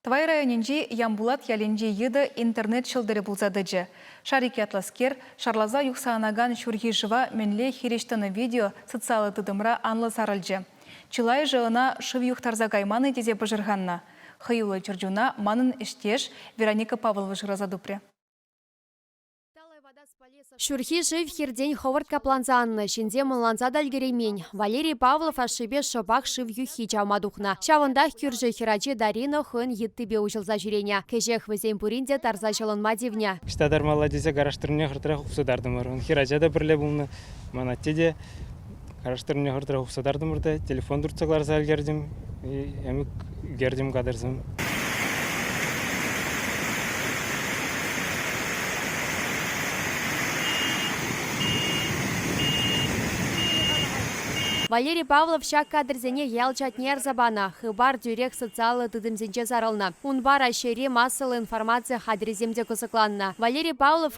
Тӑвай районӗнчи Ямпулат ялӗнчи йытӑ интернет ҫӑлтӑрӗ пулса тӑчӗ. Шарик ятлӑскер шарласа юхса анакан ҫурхи шыва мӗнле хирӗҫ тӑнӑ видео социаллӑ тытӑмра анлӑ сарӑлчӗ. Чылайӑшӗ ӑна шыв юхтарса кайман-и тесе пӑшӑрханнӑ. Хӑюллӑ чӗрчуна манӑн ӗҫтеш Вероника Павлова шыраса тупрӗ. Ҫурхи шыв хиртен хӑвӑрт капланса аннӑ, ҫынсем ӑнланса та ӗлкӗреймен. Валерий Павлов ашшӗпе шӑпах шыв юххи чавма тухнӑ. Ҫавӑнтах кӳршӗ хӗрачи Дарина хӑйӗн йыттипе уҫӑлса ҫӳренӗ. Кӗҫех вӗсем пурин те тарса ҫӑлӑнма тивнӗ. Ӑҫта тармалла тесе караштырнине хӑртрех упса тартӑмӑр. Ун хӗрача та пӗрле пулнӑ, ман атте те. Караштырмне хӑртӑрах хупса тартӑмӑр та телефон туртса кӑларса ӗлкертӗм, ӗмӗк ӳкертӗм кадрсем. Валерий Павлов ҫак кадрсене ял чатне ярса панӑ. Хыпар тӳрех социаллӑ тытӑмсенче сарӑлнӑ. Унпа Раҫҫейри массӑллӑ информаци хатӗрӗсем те кӑсӑкланнӑ. Валерий Павлов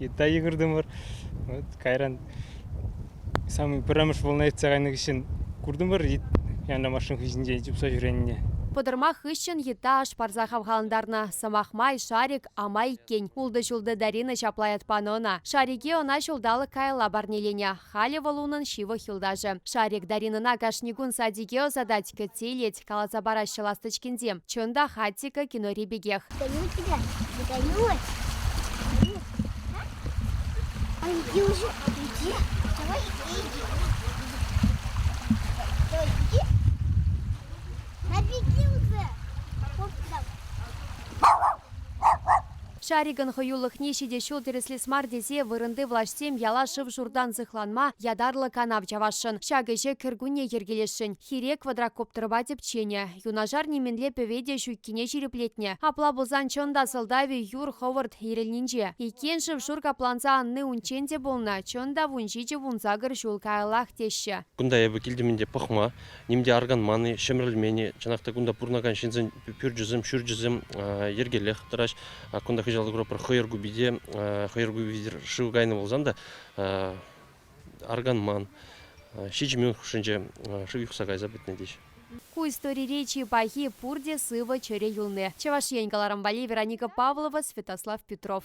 Йытта йыхӑртӑмӑр. Вот кайран самый пӗрремӗш волна иртсе кайнӑ хыҫҫӑн куртӑмӑр янра машина хыҫӗнчен чупса ҫӳренине. Пӑтӑрмах хыҫҫӑн йытта аш парса хавхалантарнӑ. Сӑмах май, Шарик ама иккен. Ултӑ ҫултӑ Дарина ҫапла ят панӑ ӑна. Шарике ӑна ҫулталӑк каялла парнеленӗ. Халӗ вӑл унӑн ҫывӑх юлташӗ. Шарик Даринӑна кашни кун садике ӑсатать, кӗтсе илет, каласа параҫҫӗ ласточкинсем. Чӑн та, Хатика кинори пекех. Каюк килет. Каюк. Андрюша, иди, давай иди. Все, иди. На беги уже. Хоп, давай. Шарикӑн хӑюлӑхне ҫитӗ ҫул тӗрӗслес мар тесе вырӑнти влаҫсем яла шыв-шуртан сыхланма ятарлӑ канав чавасшӑн. Ҫак ӗҫе кӗркунне йӗркелесшӗн. Хире квадрокоптерпа тӗпченӗ. Юнашар нимӗнле пӗве те ҫуккине ҫирӗплетнӗ. Апла пулсан чӑн та сӑлтавӗ юр хӑвӑрт ирӗлнинче. Иккен шыв-шур капланса анни унччен те пулнӑ, чӑн та вун ҫичӗ-вун сакӑр ҫул каяллах теҫҫӗ. Кунта эпӗ килтӗм ӗнтӗ пӑхма. ним те арканман-и, ҫӗмӗрӗлмен-и, чӑнах та кунта пурӑнакан ҫынсен пӳрчӗсем, ҫурчӗсем йӗркеллех тӑраҫ. Кунта кӑҫал пӗр хӑйӑр купи те, хӑйӑр купи шыв кайнӑ пулсан та арканман. Ҫичӗ минут хушшинче шыв юхса кайса пӗтнӗ теҫ. Ку историре чи пахи, пурте сывӑ чӗре юлни. Чӑваш Ен, каларӑм валли, Вероника Павлова, Святослав Петров.